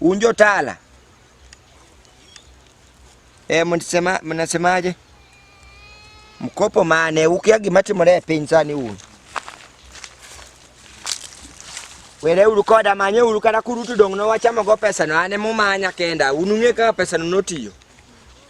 Un jotala e, mnasema mnasemaje? Mkopo mane? Ukia gima timore e piny sani un were uru koda manye uru kata kurutu dong' no wachamo go pesa no ane mumanya kenda unung'e kaka pesa no notiyo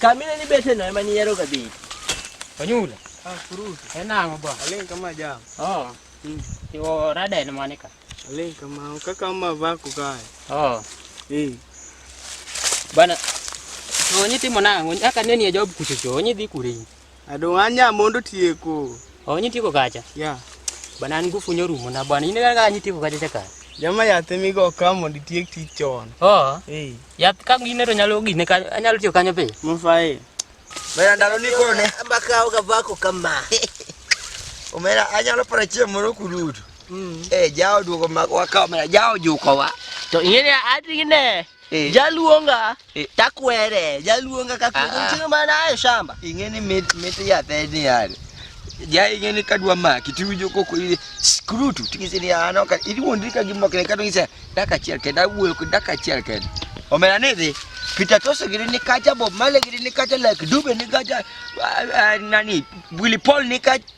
kamine ni bete no ema niyero kabili onyula enang'o bwa aling kama jam oh iwo rada en mane ka aling kama kaka ma vako kae oh eh bana onyi timo nang'o aka neni e job kuchocho onyi dhi kure in Adong' anya mondo tieko. Oh, nyi tieko kacha? Yeah. Bana an ngufu nyorumo na bana. Ine kaka nyi tieko kacha chaka. Jama yath emigo ka mondo itiek tich chon. Oh. Eh. Yath ka gine to nyalo gine ka anyalo tiyo kanyo be. Mufae. Bana ndalo ni kone. Ambaka oga bako kama. Omera anyalo para chiemo moro kududu. Mm. Eh, jao duogo mak wakaw omera jao juko wa. To ingene ati gine. Eh. Jaluonga eh. takwere, jaluonga ka kwere. Ah, ah. Chiro mana ayo shamba. Ingeni mit mit ya theni yale. Ja ingeni kadwa maki tiwinjo koko ile skrutu tingise ni ano ka ili wondi ka gimbo kene kado ngise daka chiel ke da wuyo daka chiel ke. Omela ni dhi. Peter Toso giri ni kacha Bob Marley giri ni kacha like Dube ni kacha uh, uh, nani Willie Paul ni kacha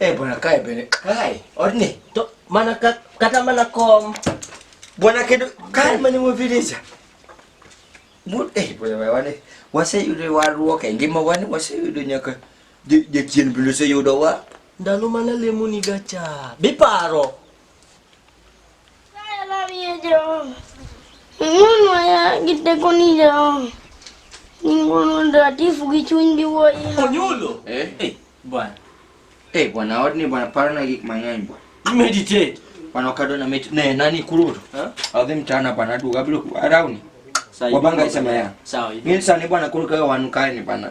Eh bwana kae bene. Kae. Odni. To mana ka, kata mana kom. Bwana kedo kae mane mo vileja. Mut eh bwana wane. Wase yudo warruok e ngima wane wase yudo nyaka jachien bende oseyudowa. Ndalo mana lemo ni gacha. Biparo. Giteko ni jo ningono ndatifu gi chuny gi wuoyi. Onyulo. Eh? Eh, bwana. Eh, bwana odni bwana parona gik mang'eny bwana. Meditate. Bwana okado na mit ne nani kururu. Eh? Adhi mtana bwana duga bilo arauni. Wabanga isema ya. Sawa. Mimi sasa ni bwana kuruka wanu kae ni bwana.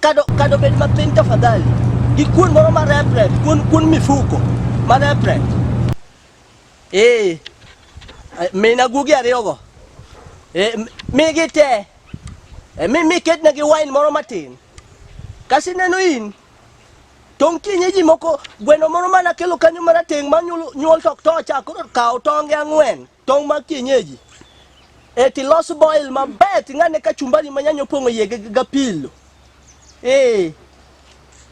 Kado, kado bed mapiny tafadhali gi kuon moro marepre kuon, kuon mifuko marepre ee mina guogi ariyogo ee, migi te e, mi miketnegi wine moro matin kasi neno in tong' kienye ji moko gweno moro mana kelo kanyo marateng' ma nyuol tok tocha koro kaw tonge ang'wen Tong' mag kienyeji e tilos boil maber ting'ane kachumbari ma nyanya opong'o iye gi gi apilo ee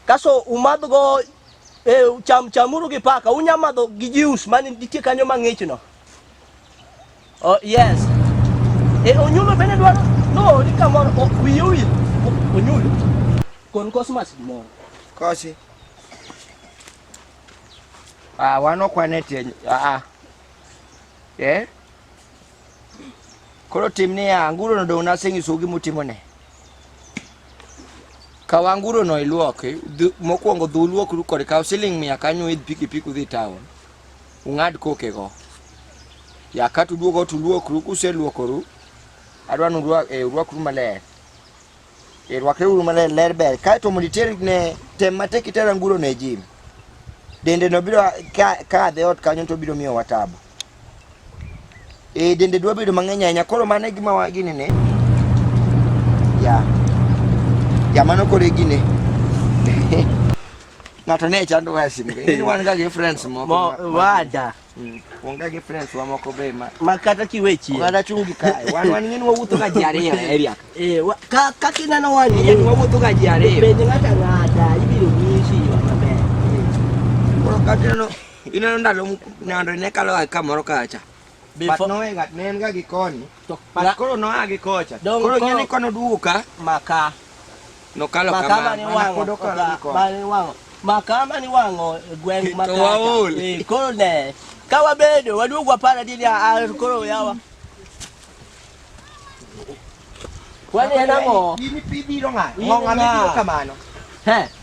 kaso umadhgo e, cham chamuru gi paka unya madho gi juice man nitie kanyo mang'ichno oh, yes e, onyulo bende dwaro noori kamoro o- wiye owil O- onyulo kon cosmas gimoro Kosi. Ah, wan ok wan e tie. Ah, ah. Eh? Koro tim niya, anguro no dong' nasenyiso gima utimone. Kaw anguro no iluok, dhu- mokwongo dhu luokru kode, kaw siling mia kanyo idh pikipiki udhi town. Ung'ad kokego. Ya ka tuduogo tuluokru, kuseluokoru, adwa ni urwa- eh, urwakru maler. E, rwakeuru maler ler ber kae to mondo iter ne tem matek iter anguro ne jim dende no biro kadhe ot kanyo to biro miyowa tabu e, dende dwa bedo mang'eny ahinya koro mano e gima gini ne ya ya mano koro e gine ng'ato ne chando wasin wan ga gi friends moko wada Mm. Onge gi friends wa moko be ma ma kata kiwe chien. Oganda chungi kae. Wan wan ng'eni wawuotho ga ji ariyo e area. Eh, wa- ka ka kineno wan Ng'eni wawuotho ga ji ariyo. penj ng'ata ng'ata ibiro nyisi yo maber. Koro ka tineno ineno ndalo m- nando ne kalo ga kamoro kacha. But Before- no way ng'at ne en ga gi koni. To but na, koro noa gi kocha. Dong, koro ng'e ni kono duogo ka maka. Nokalo maka kama. Mane wang'o, maka mane wang'o. Maka mane wang'o e gweng maka. To waol. Eh, koro ne. Ka wabedo waduogo wapara dini a ah, ah, koro yawa. Wani en ang'o? Ini pi biro ng'a. Ng'o ng'a biro kamano. He.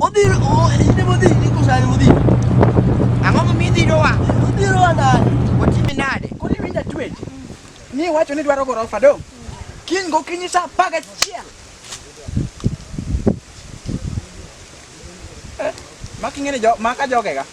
Odhiro oh, ine modhiro ni kosa ni modhiro. Ang'o ma mi dhiro wa? Odhiro wa nade? Otimi nade? Kodi winja twech. Ni wacho ni dwaro gorofa do. Kiny go kinyi sa paga chiel. Eh, makingene jo maka jogega.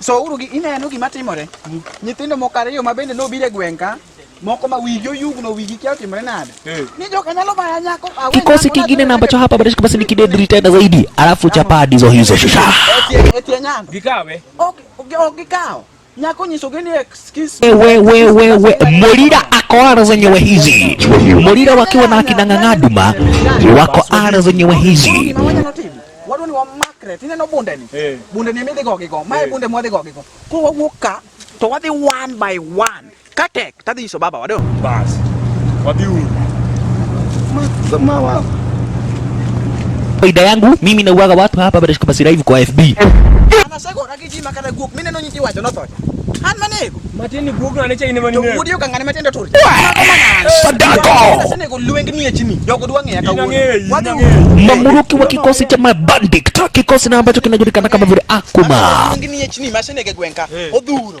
So uru gi ineno gima timore. Nyithindo moko ariyo ma bende nobiro e gweng' ka moko ma wigi oyugno wigi kia otimore nade. Ni joka nyalo baya nyako. awe Kikosi nyako kingine na ambacho hapa bado basi ni kidedri tena zaidi, alafu chapaa ndizo hizo shusha. Etie- etie nyando. Gikawe. Ok ok- ok gikawo. Nyako nyiso gini excuse. Wewe wewe we, Molira ako ara zenyewe hizi. Molira wakiwa na akina Ng'ang'aduma wako ara zenyewe hizi. Gima wanyalo timo. wadwa ni wamakre tineno bunde ni eh. bunde ni emi dhi go gi go mae eh. bunde mwadhi go gi go koro wawuok ka to wadhi one by one ka tek tadhi nyiso baba wado bas wadhi uru faida yangu mimi nauaga watu hapa badashika basi live kwa FB Iti makata guok mine no nyiti wacho notho. An manego. Matini guok na necha ine mani ne. Wudio ka ngane matende tur. Sadako. Sene ko lueng ni chini. Jogo dwa ng'eya kawuono. Wadhi ng'eya. Mamuruki wa kikosi cha mabandik ta kikosi na ambacho kinajulikana kama vile Akuma. Lueng ni chini masene ke gwenka. Odhuro.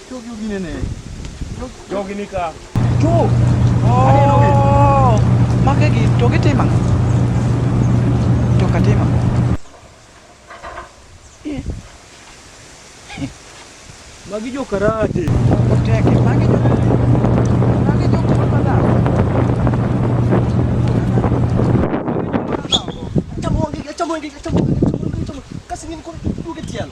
Jogi gine ne. Jogi ni ka. Tu. Aneno gi. Oh. Mage gi to gitimo ang'o? To katimo. Eh. Magi jo karate. Oteke mage jo. Mage jo kuma madam. Chamo gi, chamo gi, chamo gi, chamo gi, chamo gi. Kasi nini kwa duge tiano.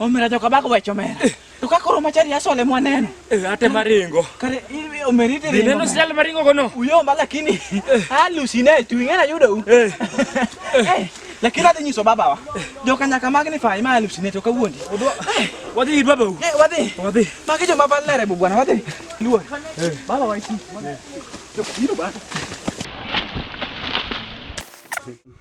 Omera joka bako wecho mera. To ka koro machari asole mwaneno. Eh, ate maringo. Kare i- omeri ite Dine no sel maringo kono. Uyo ma lakini alusine tu ingena yudo u. Eh, Eh, Lakini adhi nyiso babawa. Joka nyaka magni fai ma alusine to kawuondi. odwa. Wadhi ir babau. Eh, wadhi. Wadhi. Magi joma valere bu bwana wadhi. Luor. Baba waiti. Joka biro bwana.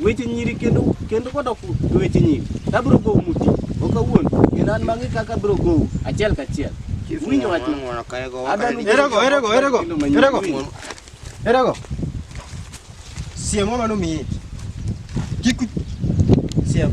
Weche nyiri kendo kendo kodok e weche nyiri. To abiro gowu muti. Ok awuon. Kendo an mang'e kaka abiro gowu achiel kachiel. Winjo wach ma. Ng'wono ka ego waka Adwaro ni- ni- Erego, erego, erego, Kendo manyien. erego. Winjo. Erego. Siem mama no miyi. Kik siem.